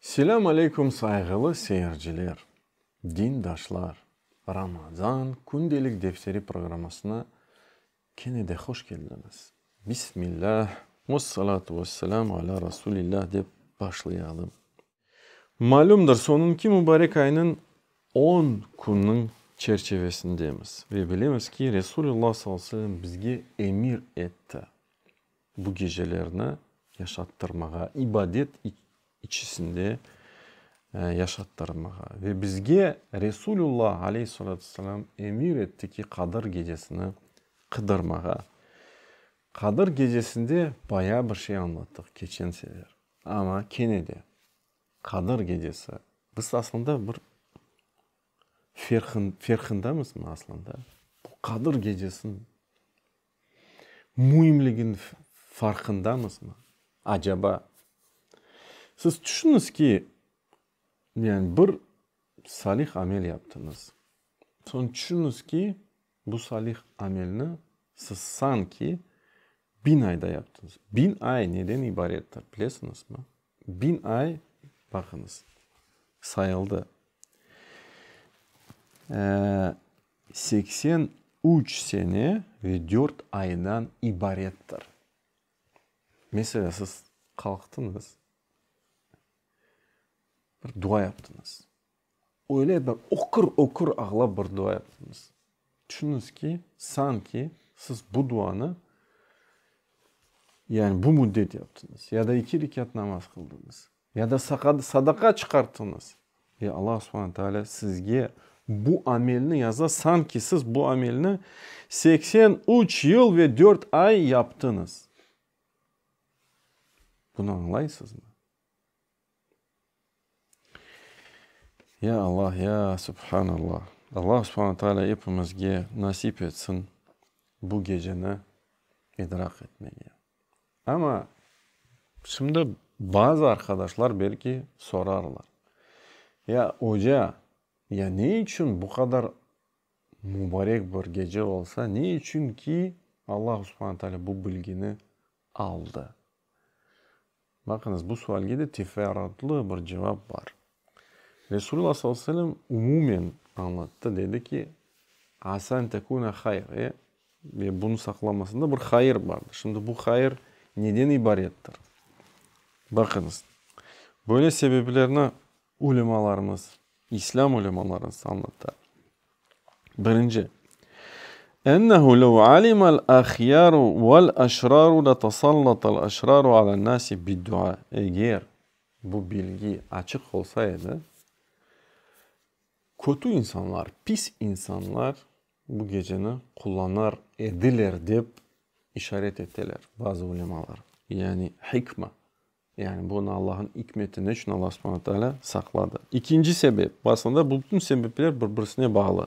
Selâm aleyküm sayğılı seyirciler, dindaşlar! Ramazan kündelik defteri programmasına kene de hoş keldiñiz. Bismillah, vessalâtu vesselâm alâ Rasulillah dep başlayalım. Malümdir, sonun ki mubarek aynın on künün çerçevesindemiz ve bilemiz ki Resulullah sallallahu aleyhi ve sellem bizge emir etti. Bu gecelerni yaşattırmağa, ibadet içisinde yaşattırmağa. Ve bizge Resulullah aleyh salâtu selam emir etti ki, Qadır gecesini qıdırmağa. Qadır gecesinde bayağı bir şey añlattıq keçen sefer. Amma kene de Qadır gecesi, biz aslında bir ferqındamızmı aslında? Bu Qadır gecesini müimliginiñ farqındamızmı acaba? Siz tüşüniz ki, yani bir salih amel yaptıñız, soñ tüşüniz ki, bu salih amelni siz sanki biñ ayda yaptıñız. Biñ ay neden ibarettir, bilesiñizmi? Biñ ay, baqıñız, sayıldı. Seksen üç sene ve dört aydan ibarettir. Mesela siz qalqtıñız, bir dua yaptıñız. Öyle bir ökür-ökür ağlap bir dua yaptıñız. Tüşüniñiz ki, sanki siz bu duanı, yani bu müddet yaptıñız ya da iki rekât namaz qıldıñız. Ya da sadaqa çıqartıñız. Ve Alla subhana taalâ sizge bu amelni yaza, sanki siz bu amelni seksen üç yıl ve dört ay yaptıñız. Bunı añlaysızmı? Ya Allah, ya Subhanallah! Allah Subhana Teala epimizge nasip etsin bu geceni idrak etmege. Amma şimdi bazı arqadaşlar belki sorarlar, Ya oca, ya ne içün bu qadar mubarek bir gece olsa, ne içün ki Allahu subhane teala bu bilgini aldı? Baqıñız, bu sualge de teferruatlı bir cevap bar. Resulullah sallallahu aleyhi ve sellem umumen añlattı, dedi ki, Asa en tekune hayr, e, ve bunı saqlamasında bir hayır bardır. Şimdi bu hayır neden ibarettir? Baqıñız, böyle sebeplerni ulemalarımız, İslâm ulemalarımız añlata. Birinci, Ennehu lev alimal ahyâru vel eşrâru letesallatel eşrâru alen nâsi biddua, eger Bu bilgi açıq olsa edi, kötü insanlar, pis insanlar bu geceni qullanar ediler, dep işaret eteler bazı ulemalar. Yani hikma, yani bunı Allahnıñ ikmeti, ne içün Alla subhana taalâ saqladı. İkinci sebep, bu aslında bu bütün sebepler bir-birisine bağlı.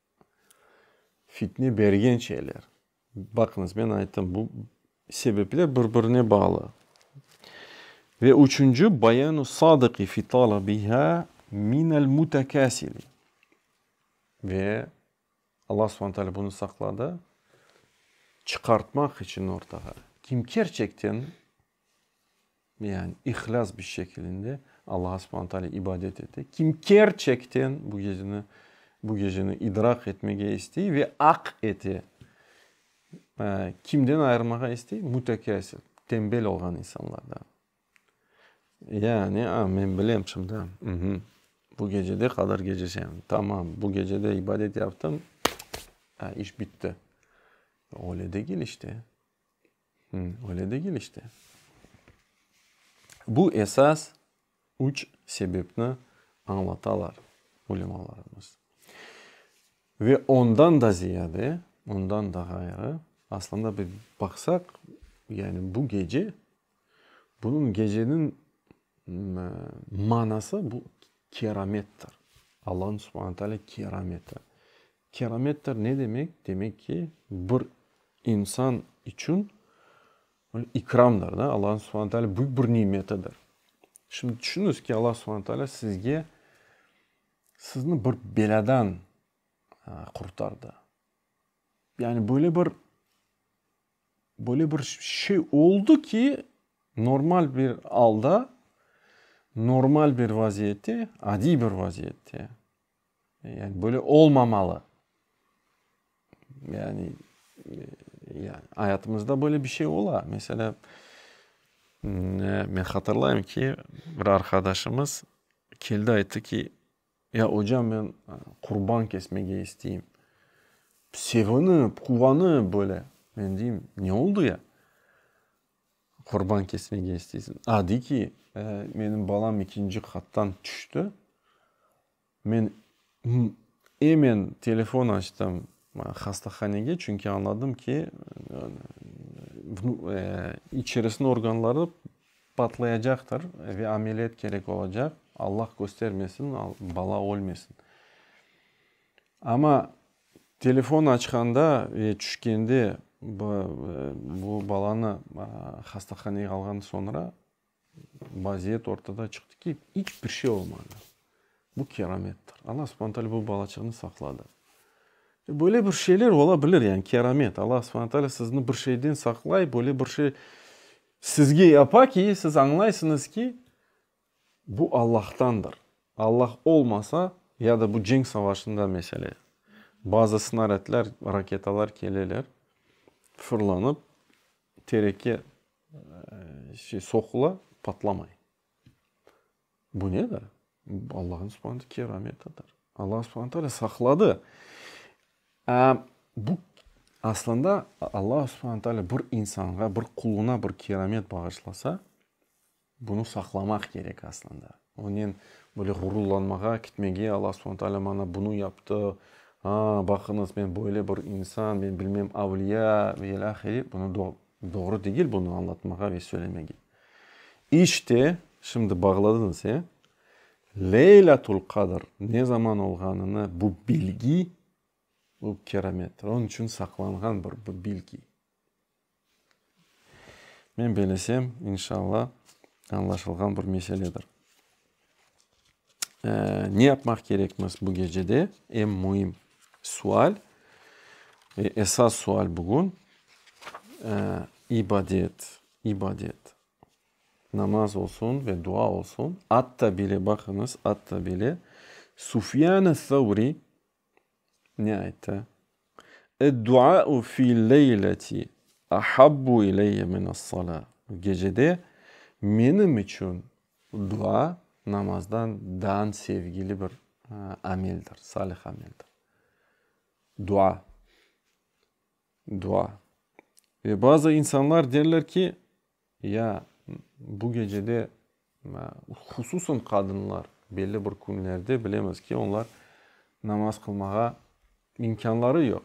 Fitne bergen şeyler. Baqıñız, men ayttım, bu sebepler bir-birine bağlı. Ve üçünci, bayanu sadiqi fi talabihâ minel mutekâsili. Ve Alla subhane teâlâ bunı saqladı, çıqartmaq içün ortağa, kim kerçekten Yani ihlâs bir şekilinde Allaha subhane teâlâ ibadet ete. Kim kerçekten bu geceni, bu geceni idrak etmege istey ve aq ete. Kimden ayırmağa istey? Mütekâsir, tembel olğan insanlardan. Yani, a, men bilem şimdi, uhmm, bu gecede Qadr Gecesi, tamam, bu gecede ibadet yaptım, a, iş bitti. Öyle degil işte. Öyle degil işte. Bu esas üç sebepni añlatalar ulemalarımız. Ve ondan da ziyade, ondan da ğayrı, aslında bir baqsaq, yani bu gece, bunıñ geceniñ manası bu keramettir. Allahu subhane teala kerameti. Keramettir ne demek? Demek ki, bir insan içün ikramdır da, Allahu subhane teala büyük bir nimetidir. Şimdi tüşüniz ki, Allahu subhane teala sizge, sizni bir belâdan qurtardı. Yani böyle bir, böyle bir şey oldu ki, normal bir alda, normal bir vaziyette, adiy bir vaziyette, Yani böyle olmamalı. Yani ayatımızda böyle bir şey ola. Mesela men hatırlayım ki, bir arqadaşımız keldi ayttı ki, ya ocam men qurban kesmege isteyim. Sevinip, quvanıp böyle. Men deyim, ne oldu ya? Qurban kesmege isteysiñ. A, dey ki, menim balam ikinci qattan tüşti. Men emen telefon açtım hastahanege, çünki añladım ki, içerisiniñ organları patlayacaqtır ve ameliyat kerek olacaq. Allah köstermesin, bala ölmesin. Amma telefon açqanda ve tüşkende bu balanı hastahanege alğan soñra vaziyet ortada çıqtı ki, iç bir şey olmadı. Bu keramettir. Alla subhane taalâ bu balaçığını saqladı. Böyle bir şeyler ola bilir, yani keramet. Alla subhane taalâ sizni bir şeyden saqlay, böyle bir şey sizge yapa ki, siz añlaysıñız ki, Bu Allahtandır. Allah olmasa, ya da bu cenk savaşında mesele, bazı snaradlar, raketalar keleler, fırlanıp, tereke soqula, patlamay. Bu nedir? Bu Allah'ın subhaneta kerametidir. Allah subhane taala saqladı. Bu aslında Allah subhane taala bir insanğa, bir quluna bir keramet bağışlasa, Bunı saqlamaq kerek aslında. Onen böyle ğururlanmağa, kitmege, Alla subhane taalâ maña bunı yaptı, ha, baqıñız, men böyle bir insan, men bilmem avliya ve ilâ ahiri, bunı doğru degil bunı añlatmağa ve söylemege. İşte, şimdi bağladıñız, e? Leylâtul qadr ne zaman olğanını bu bilgi, bu keramettir. Onıñ içün saqlanğan bir bilgi. Men belesem, inşalla, añlaşılğan bir meseledir. Ne yapmaq kerekmiz bu gecede? Eñ müim sual ve esas sual bugün, ibadet, ibadet. Namaz olsun ve dua olsun. Atta bile, baqıñız, atta bile Sufyan-i Savri Ne ayttı? Ed-duâ'u fi'l-leyleti ahabbu ileyye min'es-salâ. Gecede menim içün dua namazdan dan sevgili bir ameldir, salih ameldir. Dua, dua. Ve bazı insanlar derler ki, Ya bu gecede, hususan qadınlar, belli bir künlerde bilemiz ki, onlar namaz qılmağa imkânları yoq,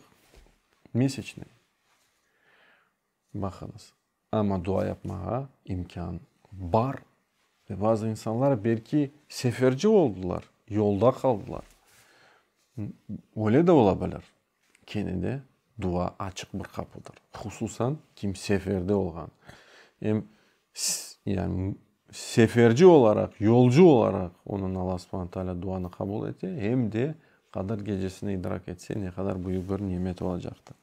mesecnen. Baqıñız, amma dua yapmağa imkân bar. Ve bazı insanlar belki seferci oldılar, yolda qaldılar, öyle de ola bilir. Kene de dua açıq bir qapıdır. Hususan kim seferde olğan, em seferci olaraq, yolcu olaraq onıñ Alla subhana taalâ duanı qabul ete, em de Qadr Gecesini idrak etse, ne qadar büyük bir nimet olacaqtır.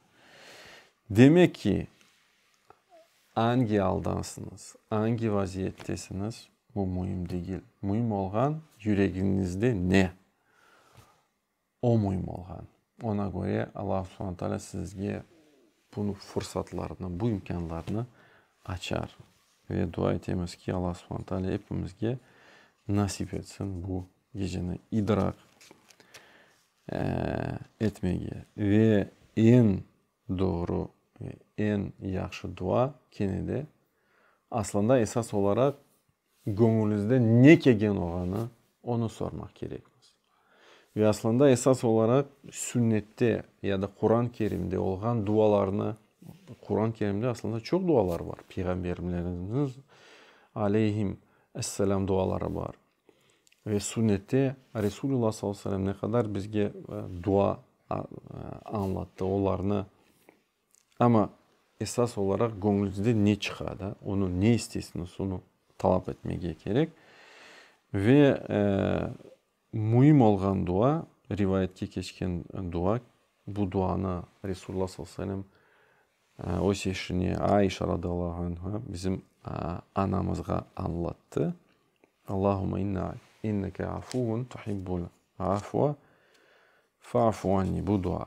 Demek ki, angi aldansıñız, angi vaziyettesiñiz, bu müim degil. Müim olğan, yüregiñizde ne? O müim olğan. Oña köre Allahu subhana taalâ sizge bu fursatlarnı, bu imkânlarnı açar. Ve dua etemiz ki, Allahu subhana taalâ epimizge nasip etsin bu geceni idraq etmege. Ve eñ doğru, eñ yahşı dua kene de, aslında esas olaraq, Göñüliñizde ne kelgen oğanı, onı sormaq kerekmiz. Ve aslında esas olaraq sünnette ya da Quran-ı Kerimde olğan dualarnı, Quran-ı Kerimde aslında çoq dualar bar, peyğamberlerimiz aleyhim esselam duaları bar. Ve sünnette Resulullah sallallahu aleyhi ve sellem ne qadar bizge dua añlattı, olarnı Amma esas olaraq göñlüzden ne çıqa da, onı ne isteysiniz, onı talap etmege kerek. Ve müim olğan dua, rivayetke keçken dua, bu duanı Resulullah sallallahu aleyhi ve sellem öz eşine Aişa radıyallahu anha, bizim anamızğa añlattı. Allahumme inneke afuvun tuhibbul afua fa'fu anni. Bu dua.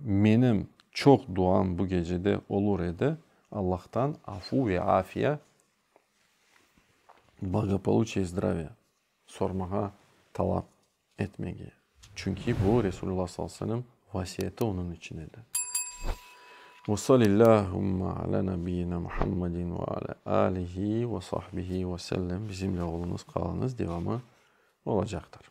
Menim çoq duam bu gecede olur edi, Allahtan afu ve afiya, blagopoluçiye i zdraviya sormağa talap etmege, çünki bu Resulullah sallallahu aleyhi ve sellem vasiyeti onıñ içün edi. Ve salillâhümme alâ nebiyyina Muhammedin ve alâ alihi ve sahbihi ve sellem Bizimle oluñız, qalıñız devamı olacaqtır.